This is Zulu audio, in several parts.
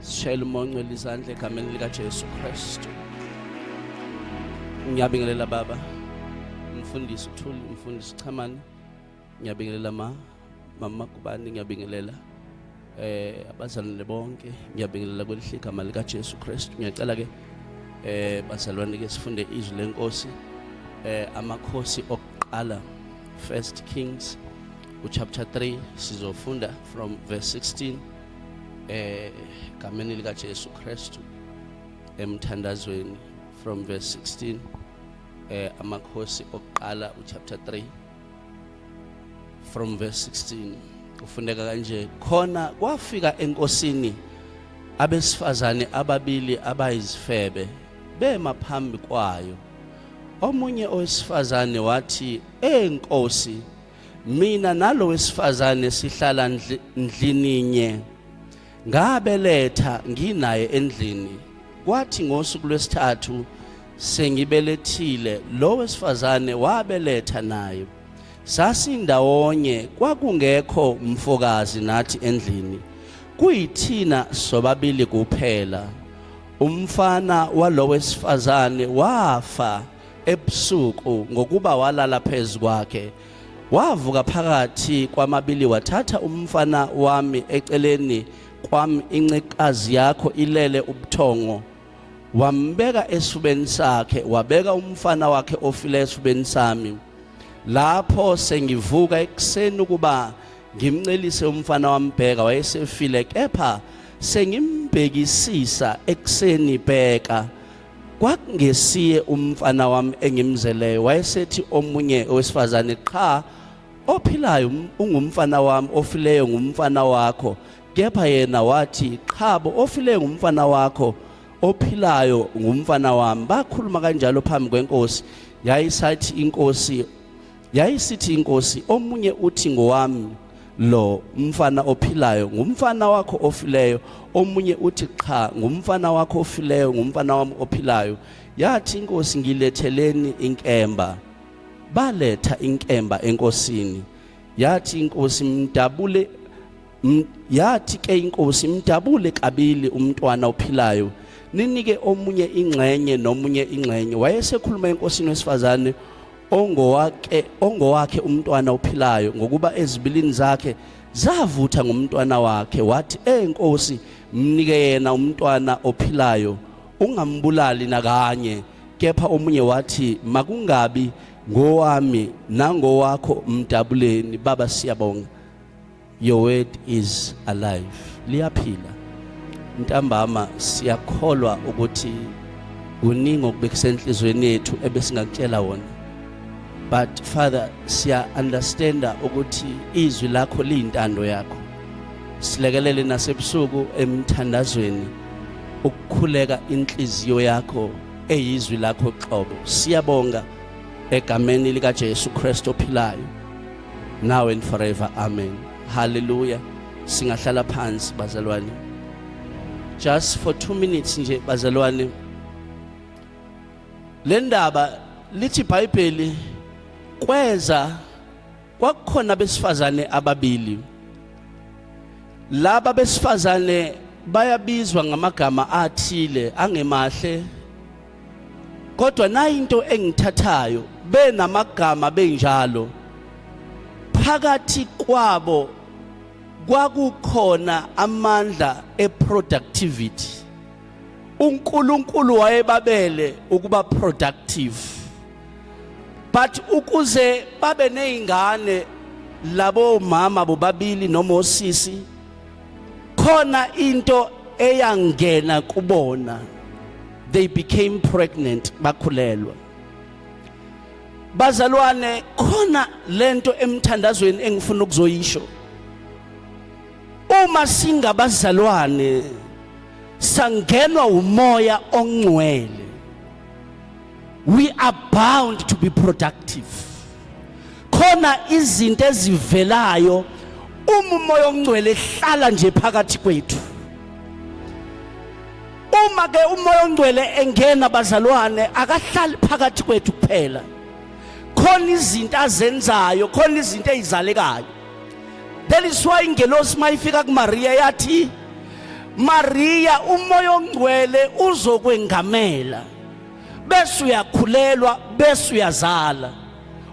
Sishayela umonqwela izandla egameni likaJesu Kristu. Ngiyabingelela baba. Mfundisi uThuli, mfundisi Chamani. ngiyabingelela ma mama kubani ngiyabingelela eh abazalwane bonke ngiyabingelela kwelihle igama lika Jesu Kristu ngiyacela ke eh bazalwane ke sifunde izwi lenkosi eh amakhosi okuqala first kings uchapter 3 sizofunda from verse 16 eh gameni lika Jesu Kristu emthandazweni from verse 16 eh amakhosi okuqala uchapter 3 from verse 16 kufundeka kanje khona kwafika enkosini abesifazane ababili abayizifebe bema phambi kwayo omunye owesifazane wathi enkosi mina nalo wesifazane sihlala ndlininye Ngabeletha nginaye endlini. Kwathi ngosuku lwesithathu sengibelethile lo wesifazane wabeletha naye. Sasindawonye kwakungekho mfokazi nathi endlini. Kuyithina sobabili kuphela. Umfana walo wesifazane wafa ebusuku ngokuba walala phezu kwakhe. Wavuka phakathi kwamabili wathatha umfana wami eceleni kwami incekazi yakho ilele ubuthongo wambeka esifubeni sakhe wabeka umfana wakhe ofile esifubeni sami lapho sengivuka ekuseni ukuba ngimncelise umfana wambheka wayesefile kepha sengimbhekisisa ekuseni bheka kwakungesiye umfana wami engimzeleyo wayesethi omunye owesifazane qha ophilayo ungumfana wami ofileyo ngumfana wakho kepha yena wathi qhabo ofileyo ngumfana wakho ophilayo ngumfana wami bakhuluma kanjalo phambi kwenkosi yayisathi inkosi Yayisithi inkosi omunye uthi ngowami lo mfana ophilayo ngumfana wakho ofileyo omunye uthi cha ngumfana wakho ofileyo ngumfana wami ophilayo yathi inkosi ngiletheleni inkemba baletha inkemba enkosini yathi inkosi mdabule Yathi ke inkosi mdabule kabili umntwana ophilayo ninike omunye ingxenye nomunye ingxenye wayesekhuluma enkosini wesifazane ongowake ongowakhe umntwana ophilayo ngokuba ezibilini zakhe zavutha ngomntwana wakhe wathi enkosi mnike yena umntwana ophilayo ungambulali nakanye kepha omunye wathi makungabi ngowami nangowakho mdabuleni baba siyabonga Your word is alive. Liyaphila. Ntambama siyakholwa ukuthi kuningi okubekisenhlizweni yethu ebesingakutshela wona. But Father siya understanda ukuthi izwi lakho liyintando yakho. Silekelele nasebusuku emthandazweni ukukhuleka inhliziyo yakho eyizwi lakho qobo. Siyabonga egameni lika Jesu Kristu ophilayo. now and forever amen hallelujah singahlala phansi bazalwane just for 2 minutes nje bazalwane le ndaba lithi iBhayibheli kweza kwakukhona abesifazane ababili laba besifazane bayabizwa ngamagama athile angemahle kodwa nayinto engithathayo benamagama benjalo phakathi kwabo kwakukhona amandla eproductivity uNkulunkulu wayebabele ukuba productive but ukuze babe nezingane labo mama bobabili noma osisi khona into eyangena kubona they became pregnant bakhulelwa bazalwane khona lento emthandazweni engifuna ukuzoyisho uma singabazalwane sangenwa umoya ongcwele we are bound to be productive khona izinto ezivelayo uma umoya ongcwele ehlala nje phakathi kwethu uma ke umoya ongcwele engena bazalwane akahlali phakathi kwethu kuphela khona izinto azenzayo khona izinto ezizalekayo That is why ingelosi mayifika kuMaria yathi Maria umoya ongcwele uzokwengamela bese uyakhulelwa bese uyazala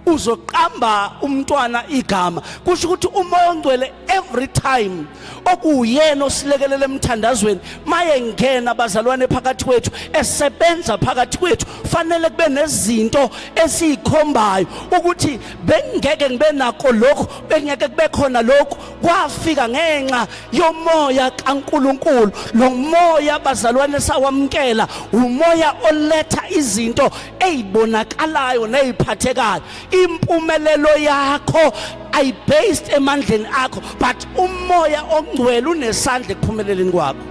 uzoqamba umntwana igama kusho ukuthi umoya ongcwele every time okuwuyena osilekelela emthandazweni maye ngena abazalwane phakathi kwethu esebenza phakathi kwethu fanele kube nezinto esiyikhombayo ukuthi bengeke ngibe nako lokhu bengeke kube khona lokhu kwafika ngenxa yomoya kaNkuluNkulu lo moya abazalwane sawamkela umoya oletha izinto ezibonakalayo neziphathekayo impumelelo yakho ayi based emandleni akho but umoya ongcwele unesandla ekuphumeleleni kwakho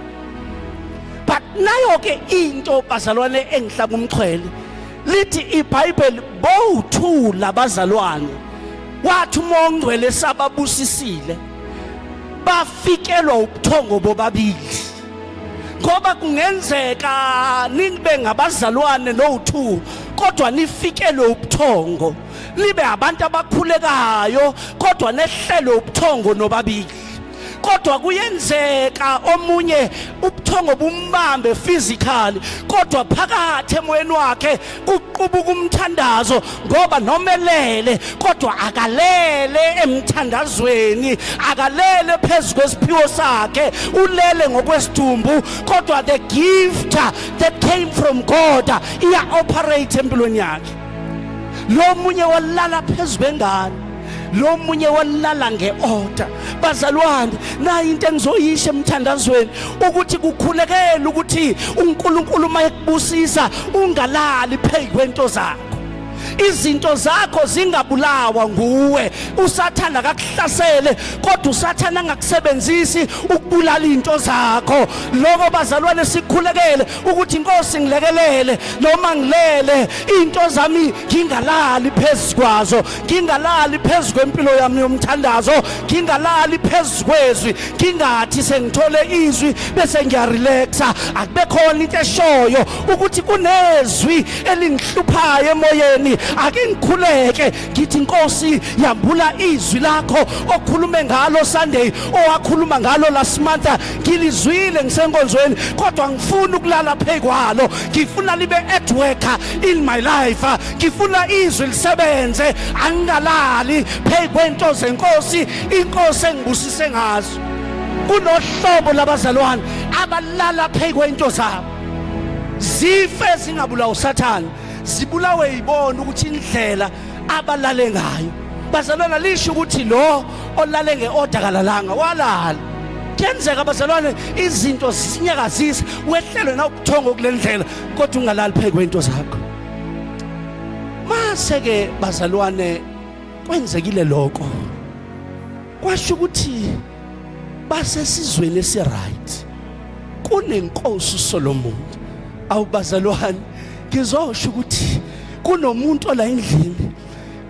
but nayo ke into bazalwane engihlaba umxhwele lithi ibhayibheli bowuthula bazalwane wathi uma ongcwele sababusisile bafikelwa ubuthongo bobabili ngoba kungenzeka nibe ngabazalwane no-two kodwa nifikelwe ubuthongo nibe abantu abakhulekayo kodwa nehlelwe ubuthongo nobabili kodwa kuyenzeka omunye ubuthongo bumbambe physically kodwa phakathi emoyeni wakhe kuqubuka umthandazo ngoba nomelele kodwa akalele emthandazweni akalele phezu kwesiphiwo sakhe ulele ngokwesidumbu kodwa the gift that came from God iya operate empilweni yakhe lo munye walala phezu kwengane lo munye walala nge-order bazalwane nayi into engizoyisho emthandazweni ukuthi kukhulekela ukuthi uNkulunkulu uma ekubusisa ungalali phezu kwento zakho izinto zakho zingabulawa nguwe usathana akakuhlasele kodwa usathana angakusebenzisi ukubulala into zakho lokho bazalwane sikhulekele ukuthi inkosi ngilekelele noma ngilele into zami ngingalali phezukwazo ngingalali phezu kwempilo yami yomthandazo ngingalali phezu kwezwi ngingathi sengithole izwi bese ngiyarelaxa akube khona into eshoyo ukuthi kunezwi elingihluphayo emoyeni ake ngikhuleke ngithi inkosi yambula izwi lakho okhulume ngalo sunday owakhuluma ngalo last month ngilizwile ngisenkonzweni kodwa ngifuna ukulala phekwalo ngifuna libe at work in my life ngifuna izwi lisebenze angingalali phezu kwento zenkosi inkosi engibusise ngazo kunohlobo labazalwane abalala phezu kwento zabo zife zingabulawa usathane zibulawe yibona ukuthi indlela abalale ngayo bazalwana lisho ukuthi lo olale ngeorder kalalanga walala kuyenzeka bazalwane izinto zisinyakazisa wehlelwe nawubuthongo kulendlela kodwa ungalali phezu kwento zakho mase ke bazalwane kwenzekile lokho kwasho ukuthi basesizweni esiright kunenkosi uSolomon awubazalwane ngizosho ukuthi kunomuntu ola endlini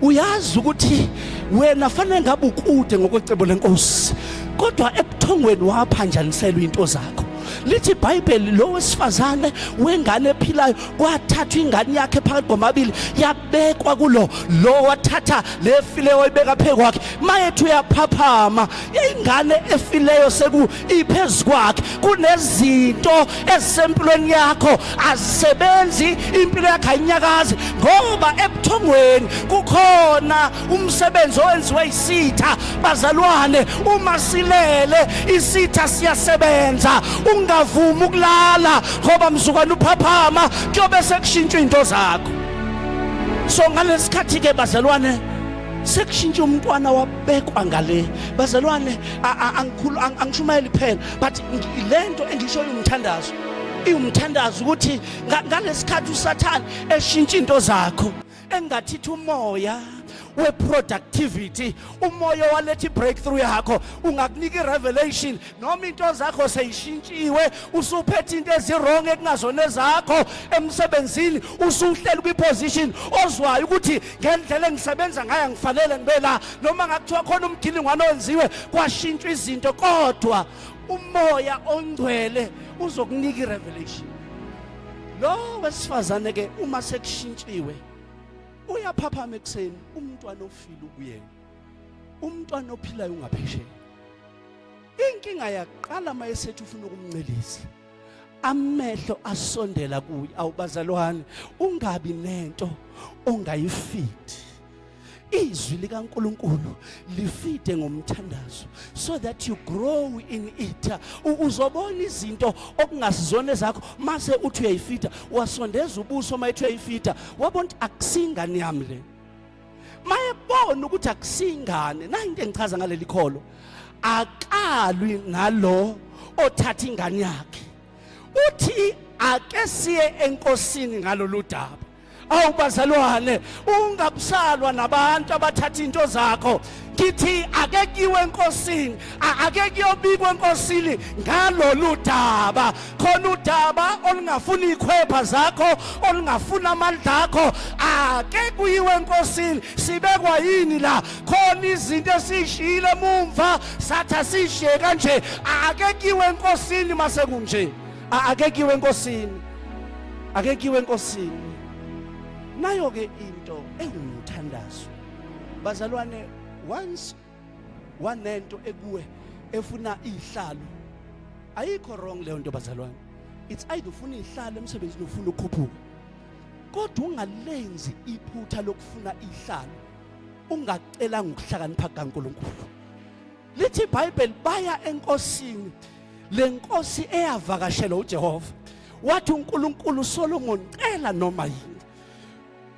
uyazi ukuthi wena fanele ngabe ukude ngokwecebo lenkosi kodwa ebuthongweni waphanjaniselwa into zakho lithi ibhayibheli lo wesifazane wengane ephilayo kwathathwa ingane yakhe phakathi kwamabili yabekwa kulo lo wathatha lefileyo wayibeka phezu kwakhe mayethu uyaphaphama ingane efileyo seku iphezu kwakhe kunezinto ezisempilweni yakho azisebenzi impilo yakhe ayinyakazi ngoba ebuthongweni kukhona umsebenzi owenziwe isitha bazalwane uma silele isitha siyasebenza ungavumi ukulala ngoba mzukwana uphaphama kuyobe sekushintsha into zakho so ngalesikhathi ke bazalwane sekushintsha umntwana wabekwa ngale bazalwane angikhulu angishumayeli kuphela but lento engishoyo umthandazo iwumthandazo ukuthi ngalesikhathi usathane eshintsha into zakho engathitha umoya weproductivity umoya waletha ibreakthrough yakho ungakunika irevelation noma into zakho seyishintshiwe usuphethe into ezirong ekungazona ezakho emsebenzini usuhleli kwiposition ozwayo ukuthi ngendlela engisebenza ngayo ngifanele ngibe la noma ngakuthiwa khona umgilingwane owenziwe kwashintshwa izinto kodwa umoya ongcwele uzokunika irevelation lo wesifazane ke uma sekushintshiwe uyaphaphama ekuseni umntwana ofile ukuyena umntwana ophilayo ungaphesheya inkinga yaqala mayesethi ufuna ukumncelisa amehlo asondela kuye awubazalwane ungabi nento ongayifidi izwi likaNkuluNkulu lifide ngomthandazo so that you grow in it uzobona izinto okungasizona ezakho mase uthi uyayifida wasondeza ubuso mayithu uyayifida wabona ukuthi akusingani yami le mayebona ukuthi akusingane nayo into engichaza ngaleli kholo akalwi nalo othatha ingane yakhe uthi ake siye enkosini ngalolu daba awubazalwane ungabusalwa nabantu abathatha into zakho ngithi ake kuyiwe enkosini ake kuyobikwa enkosini ngalolu daba khona udaba olungafuna ikhwepha zakho olungafuna amandla akho ake kuyiwe enkosini sibekwa yini la khona izinto esishiyile mumva satha sishiye kanje ake kuyiwe enkosini mase kunje ake kuyiwe enkosini ake kuyiwe enkosini nayo ke into engumthandazo Bazalwane once wanento ekuwe efuna izihlalo ayikho wrong leyo nto bazalwane it's either ufuna izihlalo emsebenzini ufuna ukukhuphuka kodwa ungalenzi iphutha lokufuna izihlalo ungacelanga ukuhlakanipha kaNkuluNkulu lithi iBhayibheli baya enkosini lenkosi eyavakashela uJehova wathi uNkulunkulu Solomon cela noma yini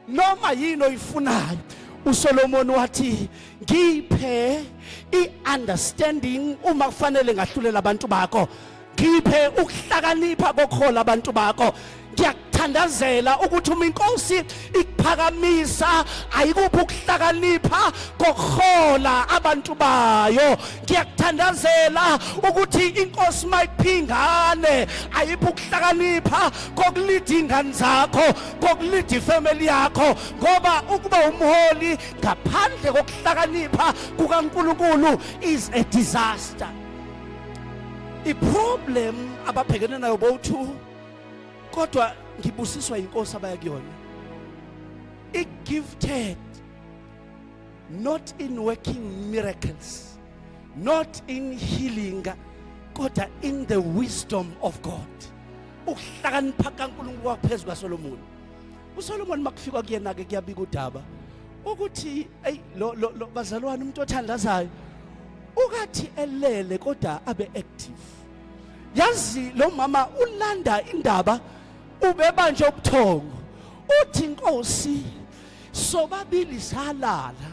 noma yini oyifunayo uSolomon wathi ngiphe iunderstanding uma kufanele ngahlulela abantu bakho ngiphe ukuhlakanipha kokhola abantu bakho ngiyakuthandazela ukuthi uma inkosi ikuphakamisa ayikuphi ukuhlakanipha kokuhola abantu bayo ngiyakuthandazela ukuthi inkosi mayiphingane ayiphi ukuhlakanipha kokulida ingane zakho kokulida ifamily yakho ngoba ukuba umholi ngaphandle kokuhlakanipha kukaNkulunkulu is a disaster iproblem ababhekene nayo bowu2 kodwa ngibusiswa inkosi abaya kuyona i gifted not in working miracles not in healing kodwa in the wisdom of God ukuhlakanipha kaNkulunkulu kwaphezu kwaSolomoni uSolomoni makufika kuyena ke kuyabika udaba ukuthi ey lo lo bazalwane umuntu othandazayo ukathi elele kodwa abe active yazi lo mama ulanda indaba ubebanje ubuthongo uthi inkosi sobabili salala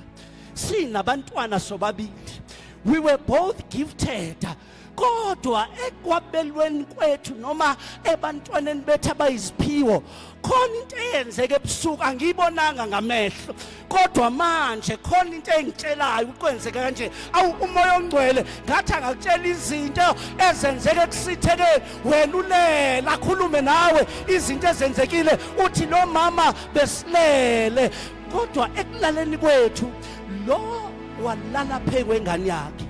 sinabantwana sobabili we were both gifted kodwa ekwabelweni kwethu noma ebantwaneni bethu abayiziphiwo khona into eyenzeke ebusuku angiyibonanga ngamehlo kodwa manje khona into engitshelayo ukwenzeka kanje awu umoya ongcwele ngathi angakutshela izinto ezenzeke kusithekeni wena ulele akhulume nawe izinto ezenzekile uthi lo mama besilele kodwa ekulaleni kwethu lo walala phekwengane yakhe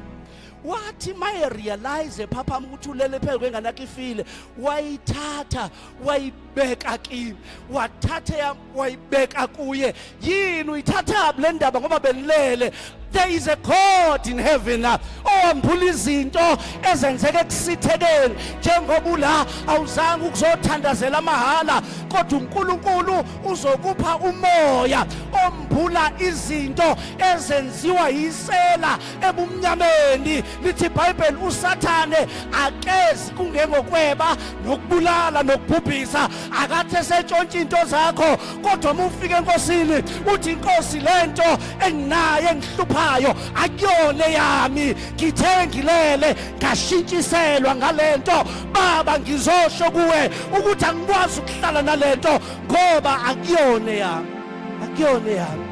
wathi maye realize ephaphama ukuthi ulele phezu kwengane yakhe ifile wayithatha wayibeka kimi wathatha yam wayibeka kuye yini uyithathaphi le ndaba ngoba benilele there is a god in heaven owambula izinto ezenzeka ekusithekeni njengoba ula awuzange ukuzothandazela amahhala kodwa uNkulunkulu uzokupha umoya ombula izinto ezenziwa yisela ebumnyameni lithi ibhayibheli usathane akezi kungengokweba nokubulala nokubhubhisa akathi esentshontsha into zakho kodwa uma ufika enkosini uthi inkosi le nto enginayo engihluphayo akuyona eyami ngithe ngilele ngashintshiselwa ngale nto baba ngizosho kuwe ukuthi angikwazi ukuhlala nale nto ngoba akuyona eyami akuyona eyami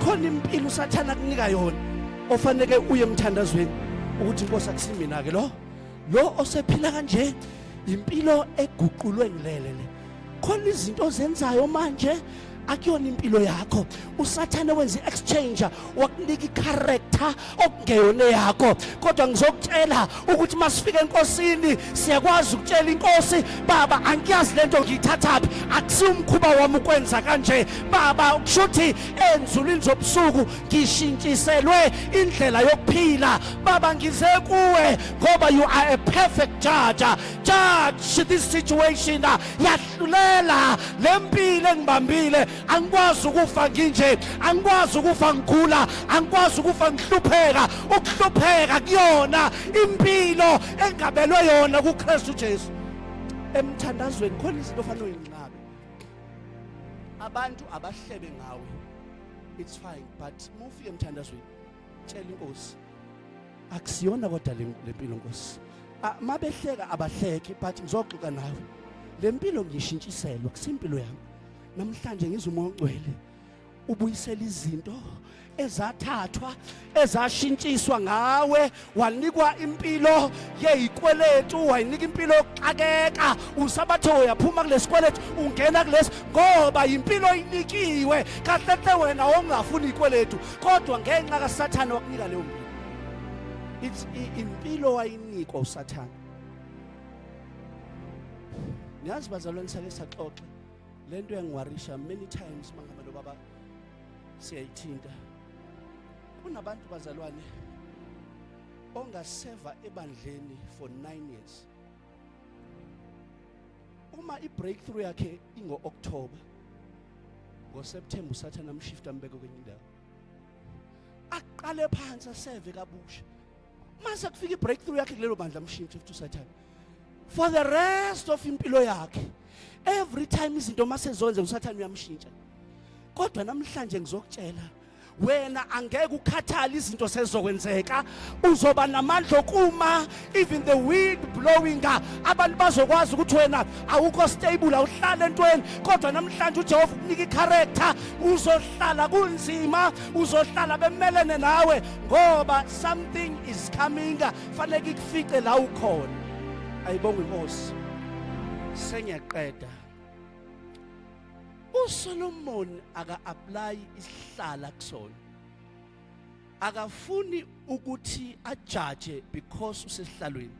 khona impilo usathana kunika yona ofaneke uye emthandazweni ukuthi inkosi akusimina ke lo lo osephila kanje impilo eguqulwe ngilele le khona izinto ozenzayo manje akuyona impilo yakho usathane wenza i-exchanger wakunika i-character okungeyona yakho kodwa ngizokutshela ukuthi masifika enkosini siyakwazi ukutshela inkosi baba angiyazi lento ngiyithathaphi akusiwumkhuba wami ukwenza kanje baba kushuthi enzulwini zobusuku ngishintshiselwe indlela yokuphila baba ngize kuwe ngoba you are a perfect judge judge this situation yahlulela lempilo engibambile angikwazi ukufa nginje angikwazi ukufa ngigula angikwazi ukufa ngihlupheka ukuhlupheka kuyona impilo engabelwe yona kuKristu Jesu emthandazweni khona izinto ofanele uyinqabe abantu abahlebe ngawe it's fine but mufike emthandazweni tshela inkosi akusiyona kodwa lempilo nkosi ah, mabehleka abahleki but ngizoxoxa nawe lempilo ngishintshiselwa kusimpilo yami namhlanje ngizwa umoya ogcwele ubuyisela izinto ezathathwa ezashintshiswa ngawe wanikwa impilo yeyikweletu wayinika impilo yokuxakeka usabathe uyaphuma kulesikweletu ungena kulesi ngoba yimpilo oyinikiwe kahle hle wena ongafuni ikweletu kodwa ngenxa kasathane wakunika leyo mpilo it's impilo wayinikwa usathane ngiyazi bazalwane sake saxoxa lento yangiwarisha many times mangaba lo baba siyayithinta kunabantu bazalwane ongaseva ebandleni for 9 years uma i-breakthrough yakhe ingo-october ngoseptemba usathane amshifta ambeke kwenye indawo aqale phansi aseve kabusha mase kufika i-breakthrough yakhe kulelo bandla amshintshe futhi usathane for the rest of impilo yakhe every time izinto masezoyenza usathane uyamshintsha kodwa namhlanje ngizokutshela wena angeke ukhathale izinto sezokwenzeka uzoba namandla okuma even the wind blowing abantu bazokwazi ukuthi wena awukho stable awuhlale entweni kodwa namhlanje uJehova ukunika icharacter uzohlala kunzima uzohlala bemelene nawe ngoba something is coming fanele ikufice la ukhona ayibonga inkosi sengiyaqeda uSolomon aka apply isihlala kusona akafuni ukuthi ajaje because usesihlalweni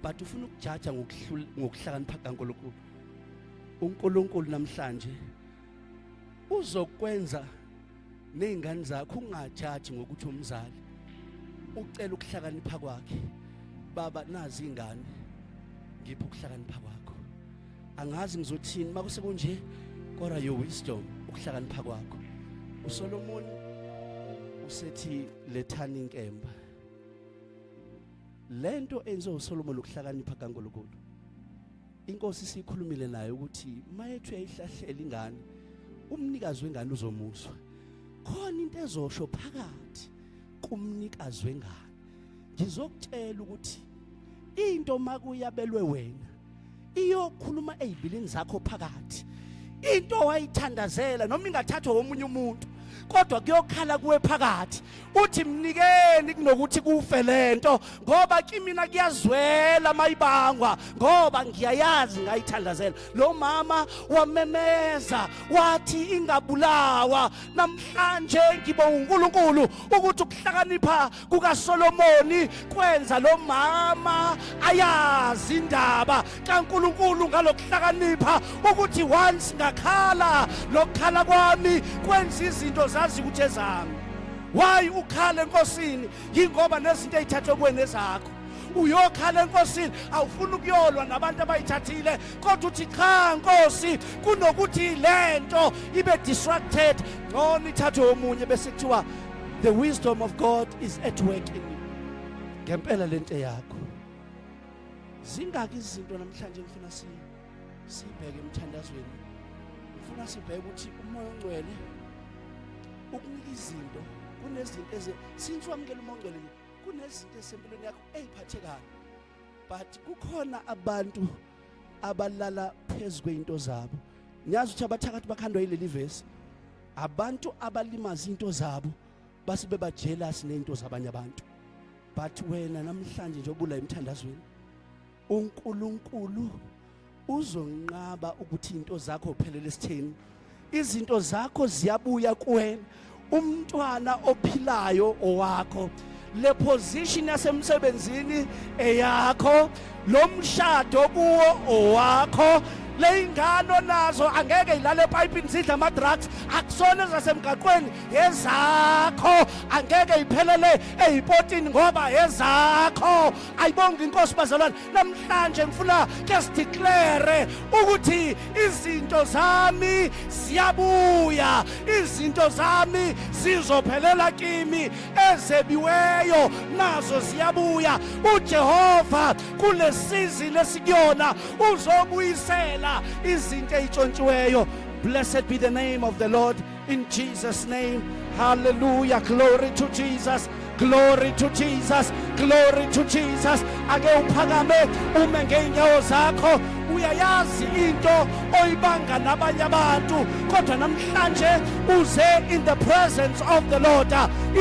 but ufuna ukujaja ngokuhlakanipha kaNkulunkulu uNkulunkulu namhlanje uzokwenza nezingane zakho ungajaji ngokuthi umzali ucela ukuhlakanipha kwakhe baba nazi ingane ngipha ukuhlakanipha kwakho angazi ngizothini makuse kunje kodwa your wisdom ukuhlakanipha kwakho uSolomon usethi lethani inkemba lento enze uSolomon ukuhlakanipha kaNkulunkulu inkosi sikhulumile naye ukuthi mayethu yayihlahlela ingane umnikazi wengane uzomuzwa khona into ezosho phakathi kumnikazi wengane ngizokutshela ukuthi into makuyabelwe wena iyokhuluma ezibilini zakho phakathi into wayithandazela noma ingathathwa womunye umuntu kodwa kuyokhala kuwe phakathi uthi mnikeni kunokuthi kufe lento ngoba kimina kuyazwela mayibangwa ngoba ngiyayazi ngayithandazela lo mama wamemeza wathi ingabulawa namhlanje ngibo uNkulunkulu ukuthi ukuhlakanipha kukaSolomoni kwenza lo mama ayazi indaba kaNkulunkulu ngalokuhlakanipha ukuthi once ngakhala lokukhala kwami kwenza izinto zazi ukuthi ezami why ukhale enkosini yingoba nezinto ezithathwe kuwena ezakho uyokhala enkosini awufuni ukuyolwa nabantu abayithathile kodwa uthi cha nkosi kunokuthi lento ibe distracted ngcono ithathwe omunye bese kuthiwa the wisdom of God is at work in you ngempela lento yakho zingaki izinto namhlanje ngifuna si sibheke emthandazweni ngifuna sibheke ukuthi umoya ongcwele ukunika izinto kunezinto eze since wamukela umoya ongcwele kunezinto esempilweni yakho eziphathekayo but kukhona abantu abalala phezu kweinto zabo ngiyazi ukuthi abathakathi bakhandwa yileli vesi abantu abalimaza into zabo base beba jealous nento zabanye abantu but wena namhlanje nje obula emthandazweni uNkulunkulu uzonqaba ukuthi into zakho uphelele sithini izinto zakho ziyabuya kuwena umntwana ophilayo owakho le position yasemsebenzini eyakho lo mshado kuwo owakho leyingane onazo angeke ilale epayipini zidla ama-drugs akusona ezasemgaqweni ezakho angeke iphelele eyipotini ngoba ezakho ayibonga inkosi bazalwane namhlanje ngifuna ke sidiklere ukuthi izinto zami ziyabuya izinto zami zizophelela kimi ezebiweyo nazo ziyabuya uJehova kulesizini esikuyona uzobuyisela izinto ezitshontshiweyo blessed be the name of the lord in jesus name hallelujah glory to jesus glory to jesus glory to jesus ake uphakame ume ngeenyawo zakho uyayazi into oyibanga nabanye abantu kodwa namhlanje uze in the presence of the Lord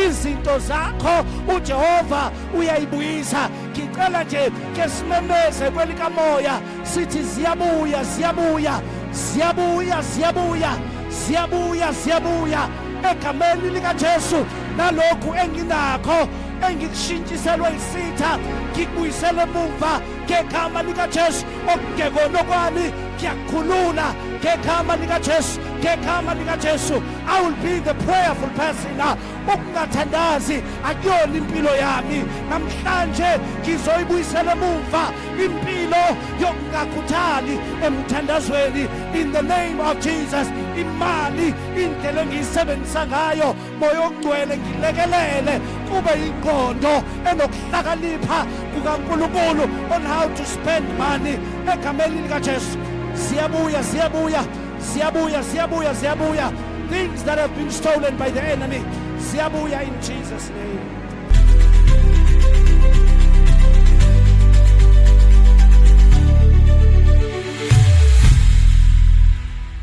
izinto zakho uJehova uyayibuyisa ngicela nje ke simemeze kwelikamoya sithi ziyabuya ziyabuya ziyabuya ziyabuya ziyabuya ziyabuya egameni likaJesu nalokhu enginakho engikushintshiselwe isitha ngikubuyisele emuva ngegama likaJesu okugekonokwani ngiyakhulula ngegama likaJesu ngegama likaJesu i will be the prayerful person ah, ukungathandazi akuyona impilo yami namhlanje ngizoyibuyisela emuva impilo yokungakhuthali emthandazweni in the name of Jesus imali indlela engiyisebenzisa ngayo moya ogcwele ngilekelele kube ingqondo enokuhlakanipha kukaNkulunkulu on how to spend money egameni likaJesu siyabuya siyabuya siyabuya siyabuya siyabuya things that have been stolen by the enemy siyabuya in Jesus name